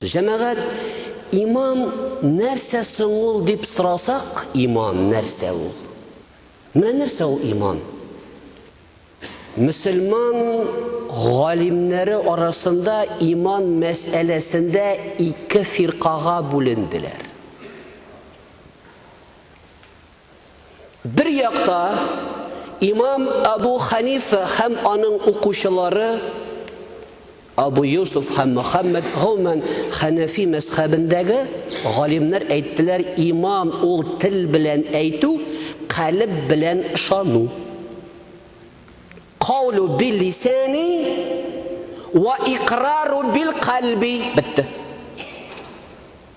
Җәмәгать, иман нәрсә соң ул дип сорасак, иман нәрсә ул? Менә нәрсә ул иман? Мөселман галимнәре арасында иман мәсьәләсендә ике фиркага бүленделәр. Бер якта имам Әбу Хәнифә һәм аның укучылары Абу Юсуф һәм Мөхәммәд, гомумән, Хәнәфи мәзхәбендәге галимнәр әйттеләр, иман ул тел белән әйтү, калеб белән ышану. Каулу бил лисани ва икърару бил калби. Бетте.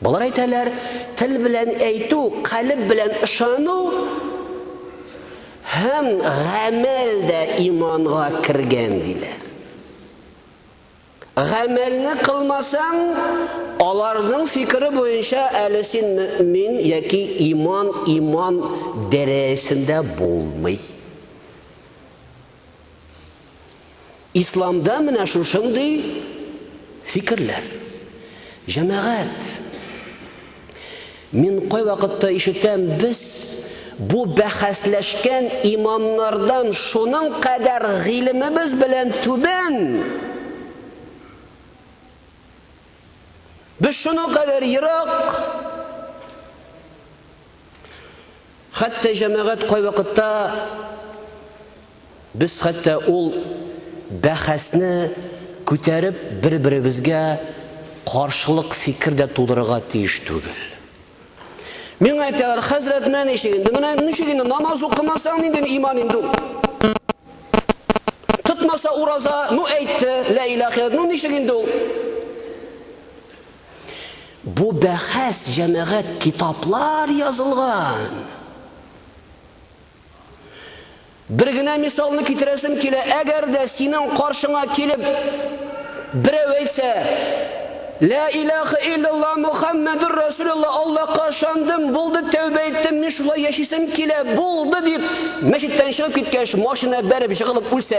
Болар әйтәләр, тел белән әйтү, калеб белән ышану һәм гамәл дә иманга кергән, диләр. Гамәлне кылмасаң, аларның фикере буенча әле син мөэмин яки иман иман дәрәясендә булмый. Исламда менә шушындый фикерләр. Җәмәгать, мин кайвакытта ишетәм, без бу бәхәсләшкән имамнардан шуның кадәр гыйлемебез белән түбән. Без шуның кадәр ерак. Хәтта җәмәгать кайвакытта без хәтта ул бәхәсне күтәреп бер-беребезгә каршылык фикер дә тудырырга тиеш түгел. Миңа әйтәләр, хәзрәт, менә ничек инде, менә ничек инде намаз укымасаң нинди иман инде ул? Тотмаса ураза, ну әйтте, лә илаха, ну ничек инде ул? Бу бәхәс җәмәгать китаплар язылган. Бер генә мисалны китерәсем килә, әгәр дә синең каршыңа килеп берәү әйтсә, Лә илаха иллалла Мухаммадур Расулулла Аллаһка ышандым, булды тәүбә иттем, мин шулай яшисем килә, булды дип мәчеттән чыгып киткәч, машина бәреп җыгылып үлсә.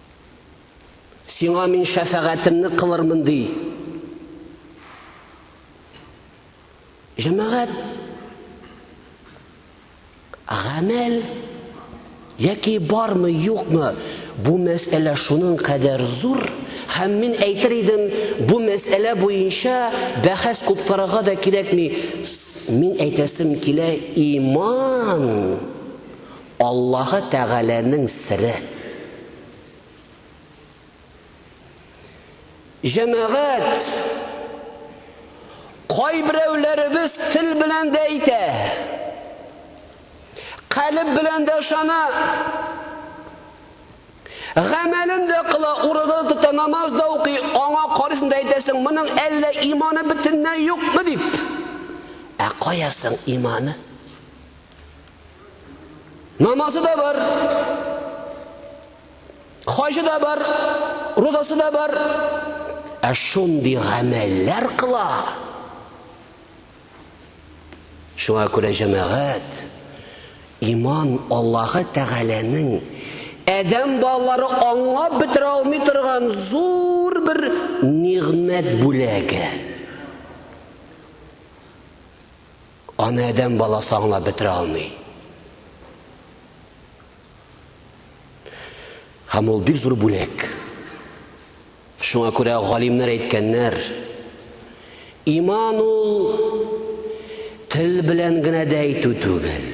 Сиңа мин шәфәгатемне кылырмын, ди. Җәмәгать гамәл яки бармы, юкмы, бу мәсьәлә шуның кадәр зур, һәм мин әйтер идем, бу мәсьәлә буенча бәхәс куптарырга да кирәкми. Мин әйтәсем килә, иман Аллаһы Тәгаләнең сере. Җәмәгать, кайберәүләребез тел белән дә әйтә, калеб белән дә ышана, гамәлен дә кыла, ураза тота, намаз да укый, аңа карыйсың да әйтәсең, моның әллә иманы бөтенләй юкмы дип. Ә каясың иманы? Намазы да бар, хаҗы да бар, розасы да бар. Ә шундый гамәлләр кыла. Шуңа күрә җәмәгать иман Аллаһы Тәгаләнең Әдәм балалары аңлап бетерә алмый торган зур бер нигъмәт бүләге. Аны адәм баласы аңлап бетерә алмый. Һәм ул бик зур бүләк. Шуңа күрә галимнәр әйткәннәр, иман ул тел белән генә дә әйтү түгел.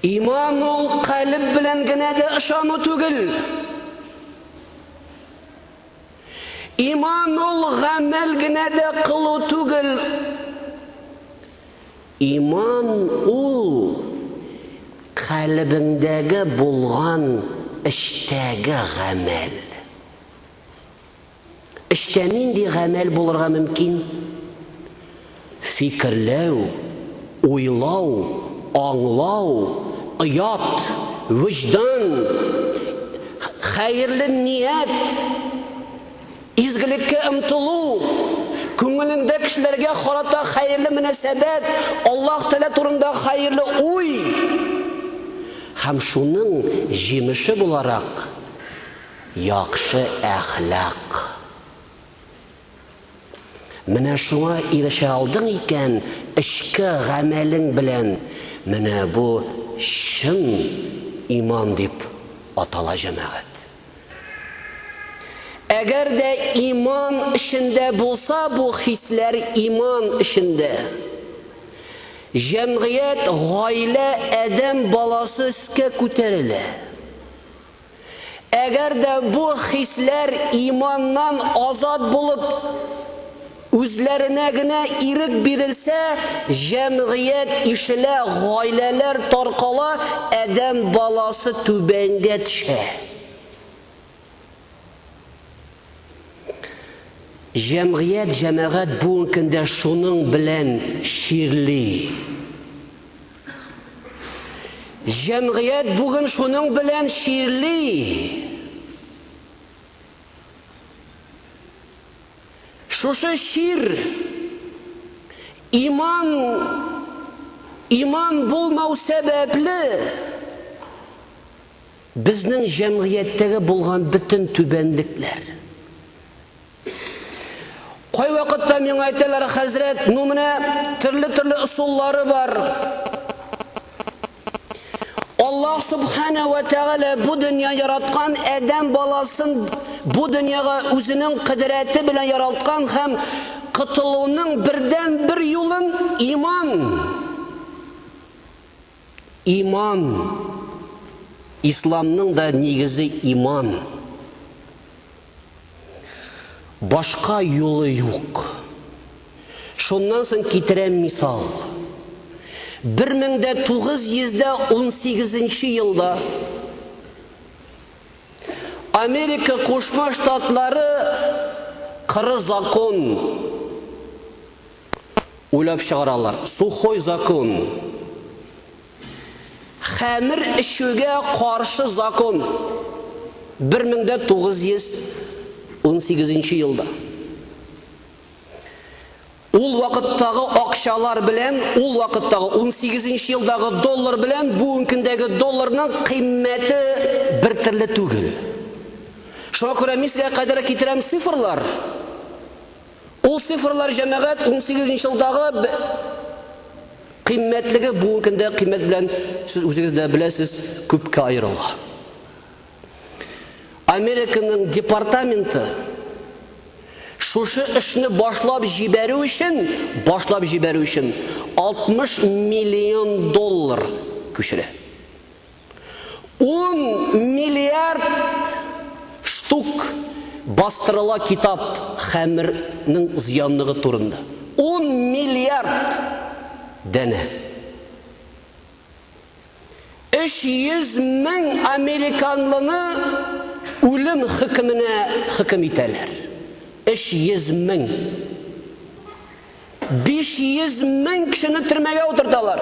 Иман ул калеб белән генә дә ышану түгел. Иман ул гамәл генә дә кылу түгел. Иман ул калебеңдәге булган эштәге гамәл. Эштә нинди гамәл булырга мөмкин? Фикерләү, уйлау, аңлау, оят, вөҗдан, хәерле ният, изгелеккә омтылу, күңелеңдә кешеләргә карата хәерле мөнәсәбәт, Аллаһ Тәгалә турында хәерле уй һәм шуның җимеше буларак, яхшы әхлак. Менә шуңа ирешә алдың икән, эчке гамәлең белән, менә бу чын иман дип атала җәмәгать. Әгәр дә иман эчендә булса бу хисләр иман эчендә. Җәмгыять, гаилә, адәм баласы өскә күтәрелә. Әгәр дә бу хисләр иманнан азат булып, үзләренә генә ирек бирелсә, җәмгыять ишелә, гаиләләр таркала, адәм баласы түбәнгә төшә. Җәмгыять, җәмәгать бүгенге көндә шуның белән чирли. Җәмгыять бүген шуның белән чирли. Шушы чир иман иман булмау сәбәпле безнең җәмгыятьтәге булган бөтен түбәнлекләр Кайвакытта миңа әйтәләр, хәзрәт, ну менә төрле-төрле ысуллары бар. Аллаһ Субхана ва Тәгалә бу дөнья яраткан Адәм баласын бу дөньяга үзенең кыдрәте белән яралткан һәм котылуның бердән бер юлын иман. Иман. Исламның да нигезе иман. Башка юлы юк. Шуннан соң китерәм мисал. 1918 елда Америка Кушма Штатлары кыры закон Уйлап чыгаралар. Сухой закон. Хәмер эчүгә каршы закон. 1918 нче елда. Ул вакыттагы акчалар белән, ул вакыттагы 18 нче елдагы доллар белән бүгенкендәге долларның кыйммәте бер төрле түгел. Шуңа күрә мин сезгә кадәр китерәм цифрлар. Ул цифрлар җәмәгать унсигезенче елдагы кыйммәтлеге бүгенге көндәге кыйммәт белән, сез үзегез дә беләсез, күпкә аерыла. Американың департаменты шушы эшне башлап җибәрү өчен, башлап җибәрү өчен 60 миллион доллар күчерә. Ун миллиард штук бастырыла китап хәмернең зыянлыгы турында. Ун миллиард данә! Өч йөз мең американлыны үлем хөкеменә хөкем итәләр. Өч йөз мең! Биш йөз мең кешене төрмәгә утырталар.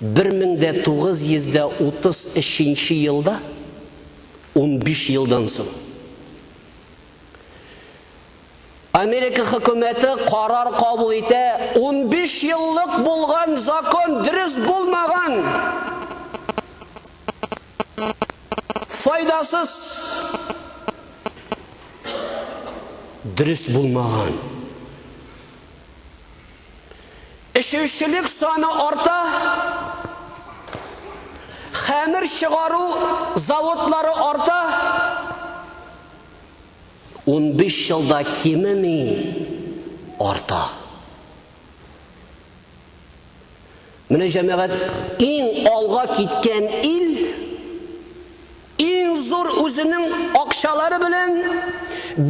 1933 нче елда, унбиш елдан соң, Америка хөкүмәте карар кабул итә, унбиш еллык булган закон дөрес булмаган, файдасыз, дөрес булмаган. Эчүчелек саны арта, хәмер чыгару заводлары арта. Унбиш елда кимеми, арта. Менә җәмәгать иң алга киткән ил иң зур үзенең акчалары белән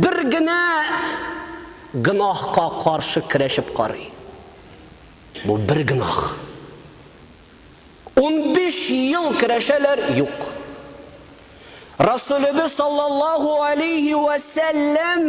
бер генә гөнаһка каршы көрәшеп карый. Бу бер гөнаһ. Унбиш ел көрәшәләр, юк. Расулебез саллаллаһу алейһи вә сәлләм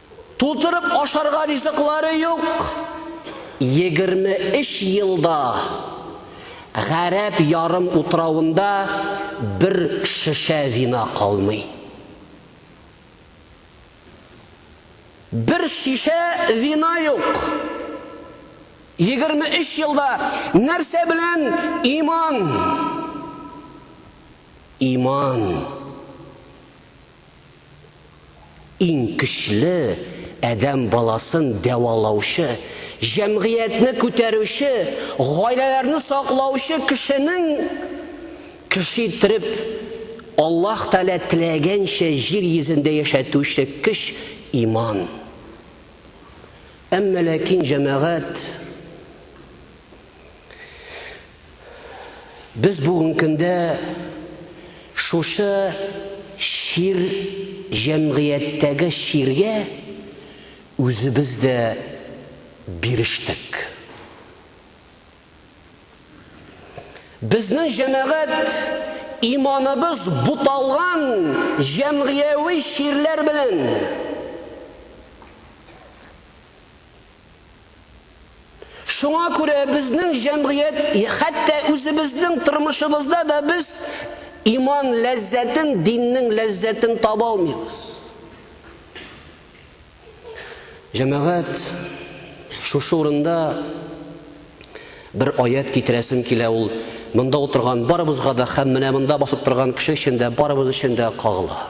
Тутырып ашарга ризыклары юк. Егерме өч елда Гарәп ярым утравында бер шешә вина калмый. Бер шишә вина юк. Егерме өч елда нәрсә белән иман? Иман. Иң көчле, адәм баласын дәвалаучы, җәмгыятьне күтәрүче, гаиләләрне саклаучы кешенең кеше иттереп Аллаһ Тәгалә теләгәнчә җир йөзендә яшәтүче көч, иман. Әмма ләкин, җәмәгать, Без бүген көндә шушы чир җәмгыятьтәге чиргә үзебез дә бирештек. Безнең җәмәгать иманыбыз буталган җәмгыяви чирләр белән Шуңа күрә безнең җәмгыять, хәтта үзебезнең тормышыбызда да без иман ләззәтен, диннең ләззәтен таба алмыйбыз. Җәмәгать, шушы урында бер аят китерәсем килә ул монда утырган барыбызга да һәм менә монда басып торган кеше өчен дә барыбыз өчен дә кагыла.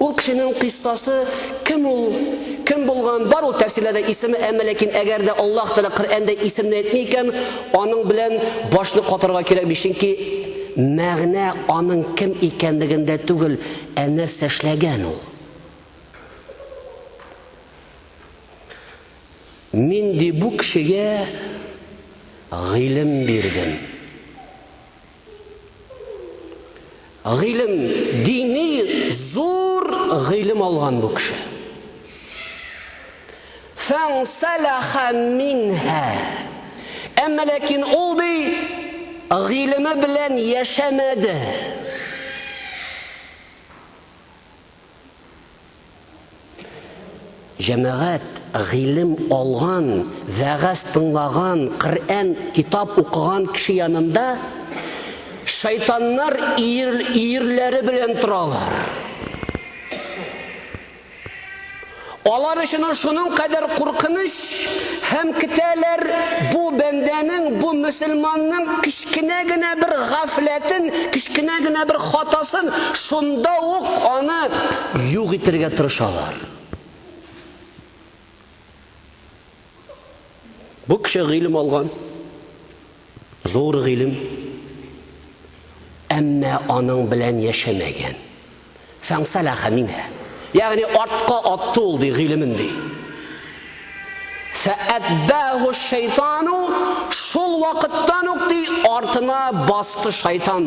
Ул кешенең кыйссасы кем ул, кем булган, бар ул тәфсирләрдә исеме, әмма ләкин әгәр дә Аллаһ Тәгалә Коръәндә исемне әйтми икән, аның белән башны катырга кирәкми, чөнки мәгънә аның кем икәнлегендә түгел, ә нәрсә эшләгән ул. Мин ди бу кешегә гыйлем бирдем. Гыйлем, дини зур гыйлем алган бу кеше. Фансалаха минха. Әмма ләкин ул ди гыйлеме белән яшәмәде. Җәмәгать, гыйлем алган, вәгазь тыңлаган, Коръән, китап укыган кеше янында шайтаннар ир, ирләре белән торалар. Алар өчен шуның кадәр куркыныч һәм китәләр бу бәндәнең, бу мөселманның кечкенә генә бер гафләтен, кечкенә генә бер хатасын, шунда ук аны Юк итергә тырышалар. Бу кеше гыйлем алган. Зур гыйлем. Әмма аның белән яшәмәгән. Фәңсәләха минә. Ягъни артка атты ул ди гыйлемен ди. Фәәббәһу шайтану шул вакыттан ук ди артына басты шайтан.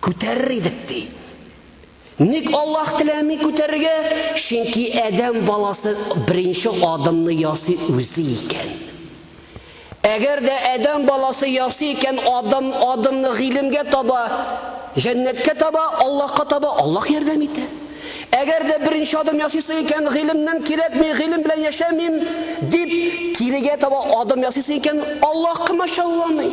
Күтәрер идек, ди. Ник Аллаһ теләми күтәрергә? Чөнки Адәм баласы беренче адымны ясый үзе икән. Әгәр дә Адәм баласы ясый икән, адым адымны гыйлемгә таба, җәннәткә таба, Аллаһка таба, Аллаһ ярдәм итә. Әгәр дә беренче адым ясыйсы икән, гыйлемнән кирәкми, гыйлем белән яшәмим, дип, кирегә таба адым ясыйсы икән, Аллаһ комачауламый.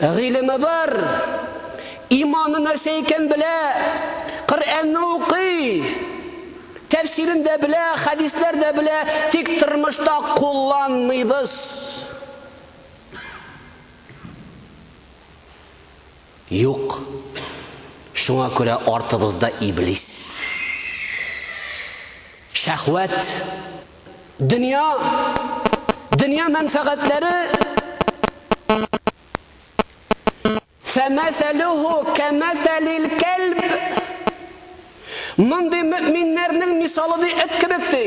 Гыйлеме бар, иманы нәрсә икән белә, Коръәнне укый, тәфсирен дә белә, хәдисләр дә белә, тик тормышта кулланмыйбыз. Юк. Шуңа күрә артыбызда Иблис. Шәһвәт. Дөнья. Дөнья мәнфәгатьләре. Фәмәсәлүһү кәмәсәлил кәлб. Мондый мөэминнәрнең мисалы ди эт кебек ди.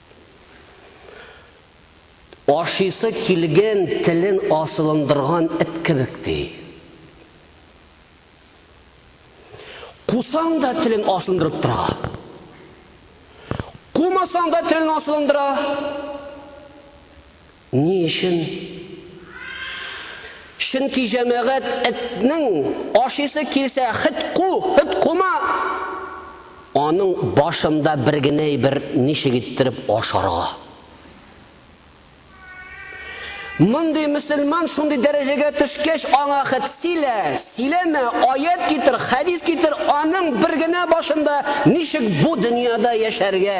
Ашыйсы килгән телен асылындырган эт кебек, ди. Кусаң да телен асылындырып тора. Кумасаң да телен асылындыра. Ни өчен? Чөнки җәмәгать этнең ашыйсы килсә хет ку, хет кума! Аның башында бер генә әйбер, ничек иттереп ашарга. Мондый мөселман шундый дәрәҗәгә төшкәч, аңа хет силә, силәмә, аять китер, хәдис китер, аның бер генә башында ничек бу дөньяда яшәргә.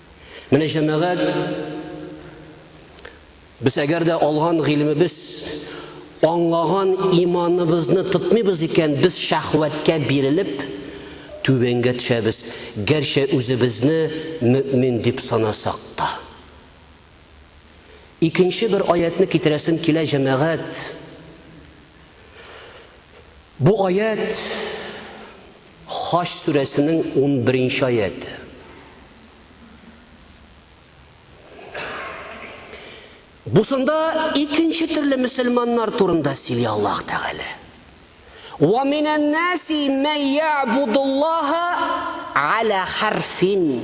Менә җәмәгать без әгәр дә алган гыйлемебез аңлаган иманыбызны тотмыйбыз икән, без шәхвәткә бирелеп түбәнгә төшәбез, гәрчә үзебезне мөмин дип санасак та. Икенче бер аятьне китерәсем килә, җәмәгать. Бу аять Хаҗ сүрәсенең 11-нче аяты. Бусында икенче төрле мөселманнар турында сөйли Аллаһ Тәгалә. Ва минән наси мә ябудуллаһа ала харфин.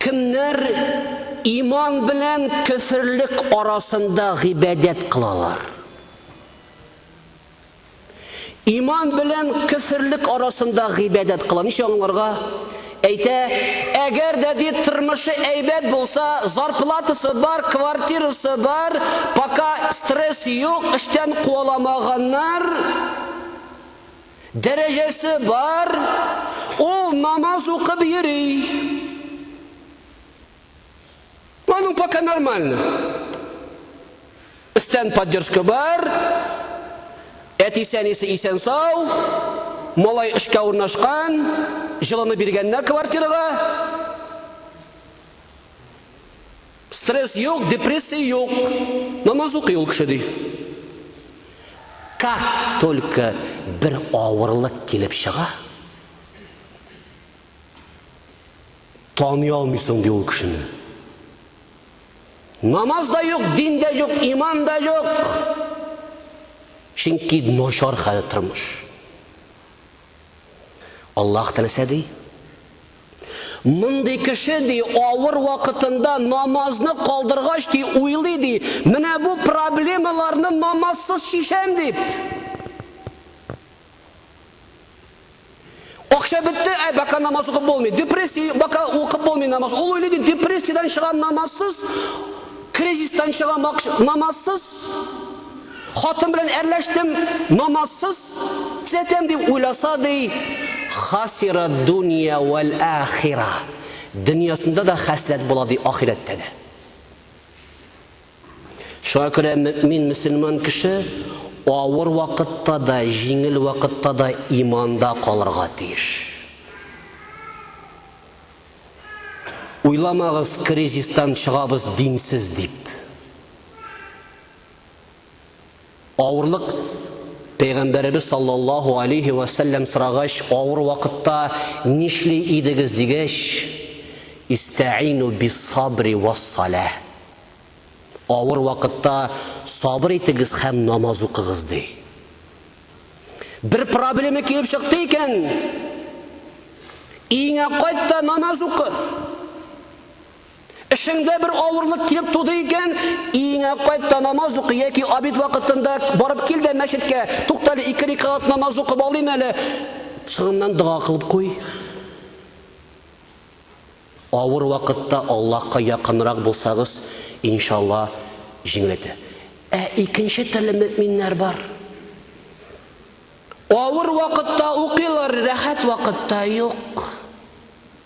Кемнәр иман белән көферлек арасында гыйбадәт кылалар? Иман белән кеферлек арасында гыйбадәт кыла. Ничә аңларга? Әйтә, әгәр дә бит тормышы әйбәт булса, зарплатасы бар, квартирасы бар, пока стресс юк, эштән куаламаганнар, Дәрәҗәсе бар, ул намаз укып йөри. Аның пока нормально. Өстән поддержка бар, әтисе-әнисе исән-сау, малай эшкә урнашкан, җылыны биргәннәр квартирага. Стресс юк, депрессия юк. Намаз укый ул кеше, ди. Как только бер авырлык килеп чыга, таный алмыйсың, ди ул кешене. Намаз да юк, дин дә юк, иман да юк. Чөнки начар хәл тормыш. Аллаһ Тәгалә ди, Мондый кеше, ди, авыр вакытында намазны калдыргач, ди, уйлый, ди, менә бу проблемаларны намазсыз чишәм, дип. Акча бетте, ә бака намаз укып булмый. Депрессия, бака укып булмый намаз. Ул уйлый, ди, депрессиядан чыгам намазсыз, кризистан чыгам намазсыз. Хатын белән әрләштем, намазсыз төзәтәм дип уйласа, ди, хасира дунья вәл ахира. Дөньясында да хәсрәт була, ди, ахирәттә дә. Шуңа күрә мөмин мөселман кеше авыр вакытта да, җиңел вакытта да иманда калырга тиеш. Уйламагыз, кризистан чыгабыз динсез дип. Авырлык Пәйгамбәребез саллаллаһу алейһи вә сәлләм сорагач, авыр вакытта нишли идегез дигәч, истәину биссабри вассалә. Авыр вакытта сабыр итегез һәм намаз укыгыз ди. Бер проблема килеп чыкты икән, иңә кайт та намаз укы. Эшеңдә бер авырлык килеп туды икән, өеңә кайт та намаз укы яки обед вакытында барып кил дә мәчеткә. Туктале, ике рикагат намаз укып алыйм әле. Соңыннан дога кылып куй. Авыр вакытта Аллаһка якынрак булсагыз, иншалла, җиңеләйтә. Ә икенче төрле мөэминнәр бар. Авыр вакытта укыйлар, рәхәт вакытта юк.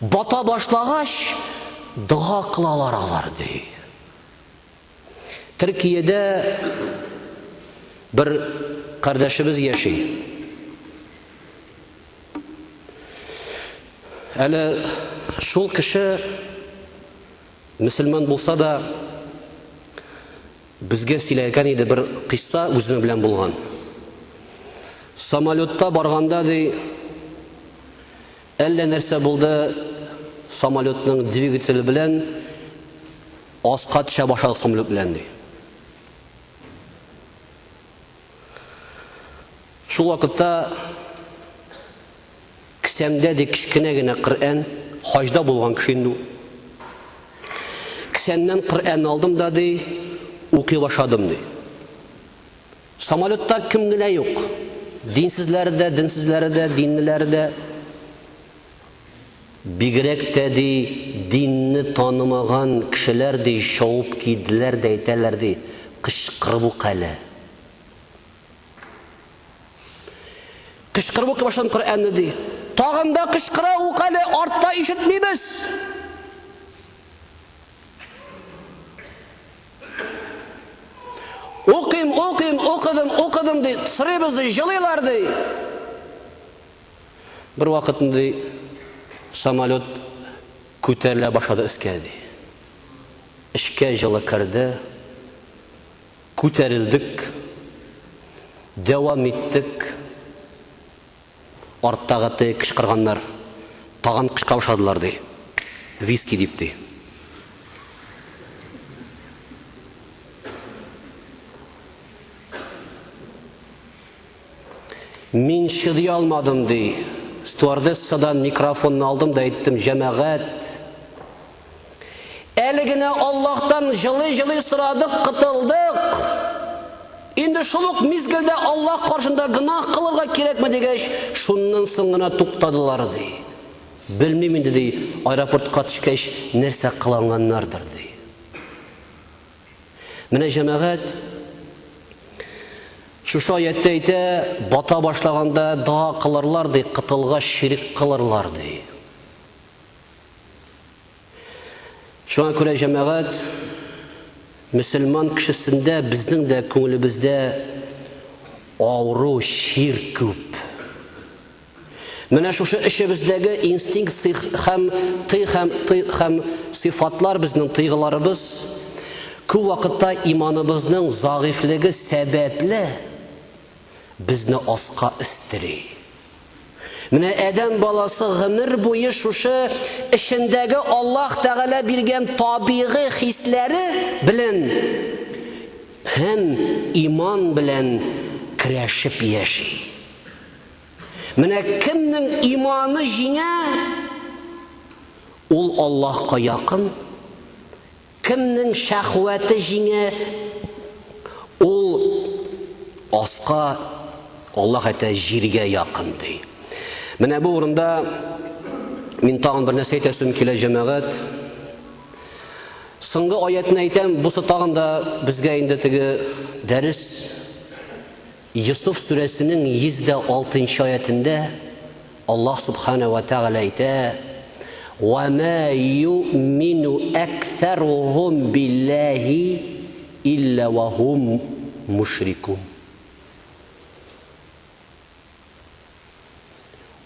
Бата башлагач, дога кылалар алар, ди. Төркиядә бер кардәшебез яши. Әле шул кеше мөселман булса да, безгә сөйләгән иде бер кыйсса үзенең белән булган. Самолетта барганда ди, Әллә нәрсә булды, самолетның двигателе белән аска төшә башладык самолет белән, ди. Шул вакытта кесәмдә, ди, кечкенә генә Коръән, хаҗда булган кеше инде ул. Кесәмнән Коръән алдым да, ди, укый башладым, ди. Самолетта кем генә юк. Динсезләре дә, денсезләре дә, диннеләре дә. Бигрәк тә, ди, динне танымаган кешеләр, ди, чавып килделәр дә әйтәләр, ди, Кычкырып ук әле. Кычкырып укый башладым Коръәнне, ди. Тагын да кычкыра ук әле, артта ишетмибез. Укыйм, укыйм, укыдым, укыдым, ди, сорыйбыз, ди, җылыйлар, ди. Бервакытны, ди, самолет күтәрелә башлады өскә, ди. Эчкә җылы керде, күтәрелдек, дәвам иттек. Арттагы теге кычкырганнар тагын кычкыра башладылар, ди. Виски дип, ди. Мин чыдый алмадым, ди. Стюардессадан микрофонны алдым да әйттем, Җәмәгать! Әле генә Аллаһтан җылый-җылый сорадык, кытылдык. Инде шул ук мизгелдә Аллаһ каршында гөнаһ кылырга кирәкме дигәч, шуннан соң гына туктадылар, ди. Белмим инде, ди, аэропортка төшкәч нәрсә кыланганнардыр, ди. Менә җәмәгать шушы аятта әйтә, бата башлаганда дога кылырлар ди, кытылгач ширек кылырлар ди. Шуңа күрә җәмәгать мөселман кешесендә безнең дә күңелебездә авыру чир күп. Менә шушы эчебездәге инстинкт сих һәм ты һәм ты һәм сыйфатлар безнең тыйгыларыбыз күп вакытта иманыбызның загыйфлеге сәбәпле безне аска өстери. Менә Адәм баласы гомер буе шушы эчендәге Аллаһ Тәгалә биргән табигый хисләре белән һәм иман белән көрәшеп яши. Менә кемнең иманы җиңә, ул Аллаһка якын, Кемнең шәхвәте җиңә, ул аска, Аллаһ әйтә, җиргә якын, ди. Менә бу урында мин тагын бер нәрсә әйтәсем килә, җәмәгать. Соңгы аятьне әйтәм, бусы тагын да безгә инде теге дәрес Йосыф сүрәсенең 106 нчы аятендә Аллаһ Сүбхәнәһү вә Тәгалә әйтә, Вә мә юъмину әксәрухум билләһи илля вә һум мушрикун.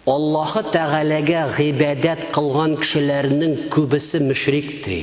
Аллаһы Тәгаләгә гыйбадәт кылган кешеләрнең күбесе мөшрик, ди.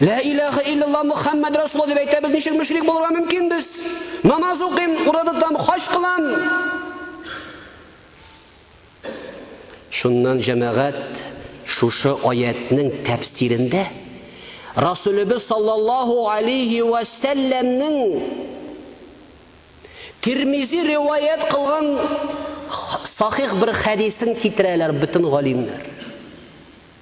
Лә иләхә иллаллаһ Мөхәммәд Расулла дип әйтәбез, ничек мөшрик булырга мөмкин без? Намаз укыйм, ураза тотам, хаҗ кылам. Шуннан җәмәгать шушы аятның тәфсирендә Расулебез саллаллаһу алейхи ва сәлләмнең Тирмизи риваять кылган сахих бер хәдисен китерәләр бөтен галимнәр.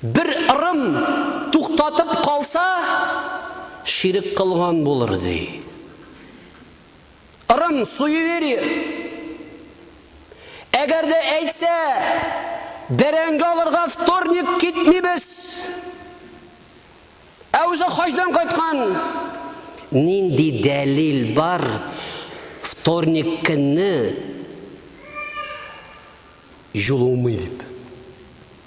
Бер ырым туктатып калса, ширек кылган булыр, ди. Ырым суеверие. Әгәр дә әйтсә, бәрәңге алырга вторник китмибез. Ә үзе хаҗдан кайткан. Нинди дәлил бар вторник көнне җылымый дип?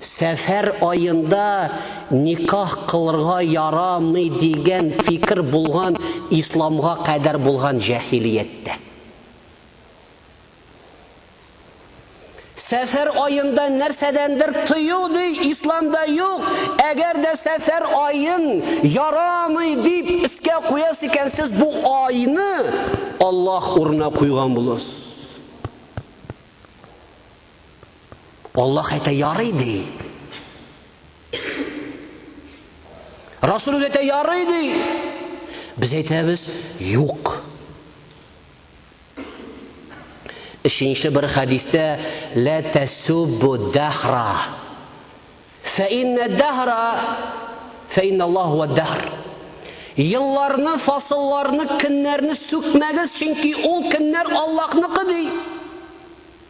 Сәфәр аенда никах кылырга ярамый дигән фикер булган исламга кадәр булган җәһилияттә. Сәфәр аенда нәрсәдәндер тыю ди исламда юк, әгәр дә сәфәр аен ярамый дип искә куясы икән сез бу айны Аллаһ урынына куйган булырсыз. Аллаһ әйтә, ярый ди. Расул әйтә, ярый ди. Без әйтәбез, юк. Өченче бер хәдистә лә тәсуббу дәхра. Фә иннә дәхра фә инна Аллаһу ва дәхр. Елларны, фасылларны, көннәрне сүкмәгез, чөнки ул көннәр Аллаһныкы ди.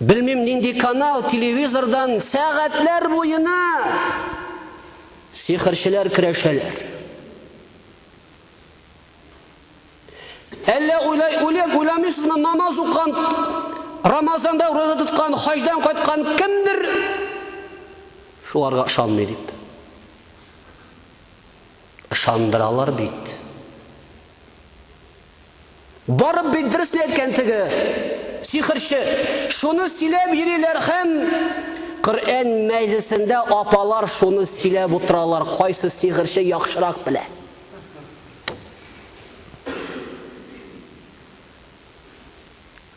Белмим нинди канал, телевизордан сәгатьләр буена сихерчеләр керәшәләр. Әллә уйлай, уйлап уйламыйсызмы, намаз укан, Рамазанда ураза тоткан, хаҗдан кайткан кемдер шуларга ышанмый дип. Ышандыралар бит. Барып бит дөресне әйткән теге сихерче. Шуны сөйләп йөриләр һәм Коръән мәҗлесендә апалар шуны сөйләп утыралар, кайсы сихерче яхшырак белә.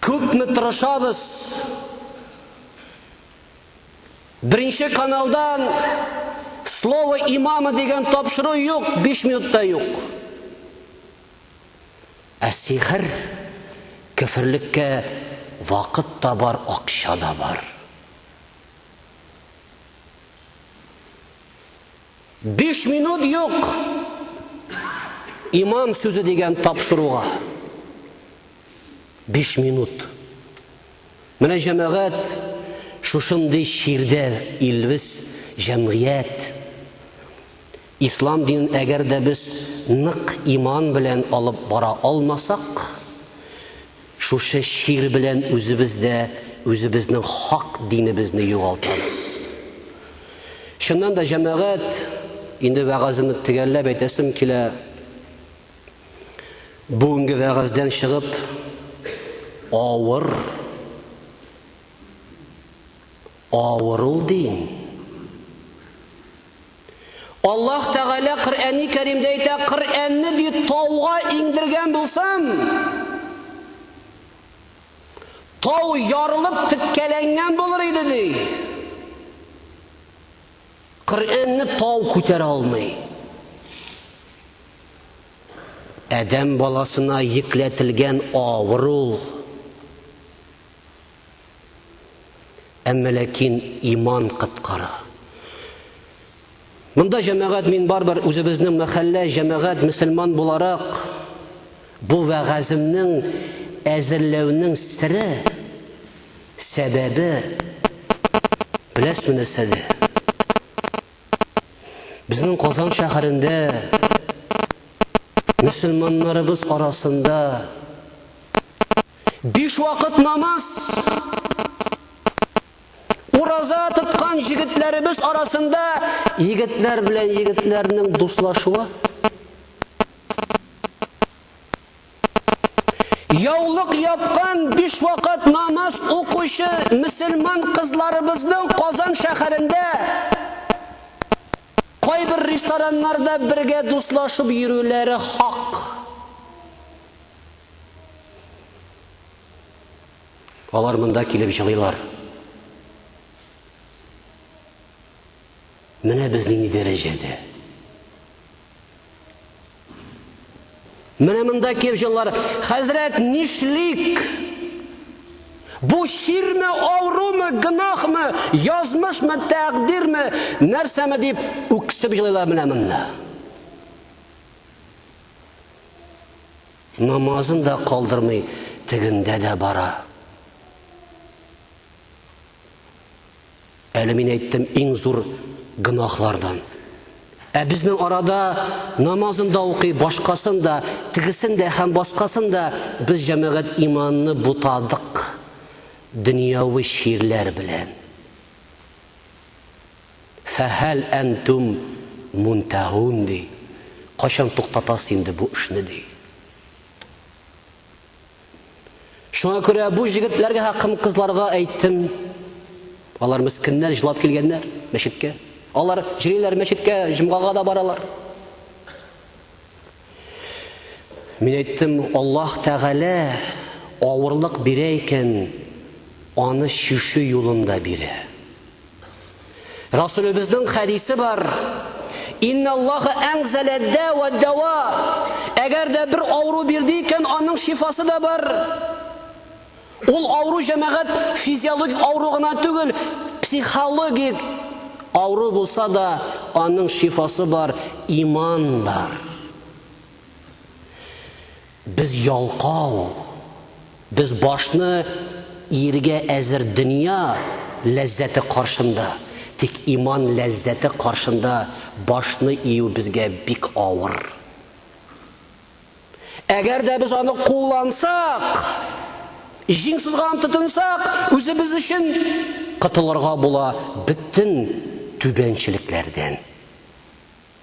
Күпме тырышабыз? Беренче каналдан слово имама дигән тапшыру юк, 5 минутта юк. Ә сихер, көферлеккә вакыт та бар, акча да бар. Биш минут юк имам сүзе дигән тапшыруга. Биш минут. Менә җәмәгать шушындый чирдә илбез җәмгыять. Ислам динен әгәр дә без нык иман белән алып бара алмасак, шушы чир белән үзебез дә үзебезнең хак динебезне югалтабыз. Чыннан да, җәмәгать, инде вәгаземне төгәлләп әйтәсем килә, бүгенге вәгаздән чыгып, авыр, авыр ул дин. Аллаһ Тәгалә Коръәни Кәримдә әйтә, Коръәнне, ди, тауга иңдергән булсам, тау ярылып теккәләнгән булыр иде, ди. Коръәнне тау күтәрә алмый. Адәм баласына йөкләтелгән авыр ул. Әмма ләкин иман кыткара. Монда җәмәгать мин барбер үзебезнең мәхәллә җәмәгать мөселман буларак бу вәгаземнең әзерләүнең сире сәбәбе беләсме нәрсәдә? Безнең Казан шәһәрендә мөселманнарыбыз арасында Биш вакыт намаз. Ураза тоткан җегетләребез арасында егетләр белән егетләрнең дуслашуы. Яулык япкан биш вакыт намаз укучы мөселман кызларыбызның Казан шәһәрендә кайбер рестораннарда бергә дуслашып йөрүләре хак. Алар монда килеп җылыйлар. Менә без нинди дәрәҗәдә. Менә монда килеп җылылар. Хәзрәт, нишлик? Бу чирме, авырумы, гынахмы, язмышмы, тәкъдирме, нәрсәме дип үксеп җылыйлар менә монда. Намазын да калдырмый, тегендә дә бара. Әле мин әйттем иң зур гөнаһлардан. Ә безнең арада намазын да укый, башкасын да, тегесен дә һәм баскасын да без җәмәгать иманны бутадык дөньяви чирләр белән. Фәһәл әнтүм мунтәгун, ди. Кайчан туктатасыз инде бу эшне, ди. Шуңа күрә бу җегетләргә хакым кызларга әйттем. Алар мескеннәр җылап килгәннәр мәчеткә. Алар җриләр мәчеткә, җомгага да баралар. Мин әйттем, Аллаһ Тәгалә авырлык бирә икән, аны чишү юлында бирә. Расулебезнең хәдисе бар. Инна Аллаха әнзәлә дәва дәва. Әгәр дә бер авыру бирде икән, аның шифасы да бар. Ул авыру җәмәгать физиологик авыру гына түгел, психологик авыру булса да, аның шифасы бар, иман бар. Без ялкау, без башны иергә әзер дөнья ләззәте каршында, тик иман ләззәте каршында башны ию безгә бик авыр. Әгәр дә без аны куллансак, җиң сызганып тотынсак, үзебез өчен котылырга була бөтен түбәнчелекләрдән.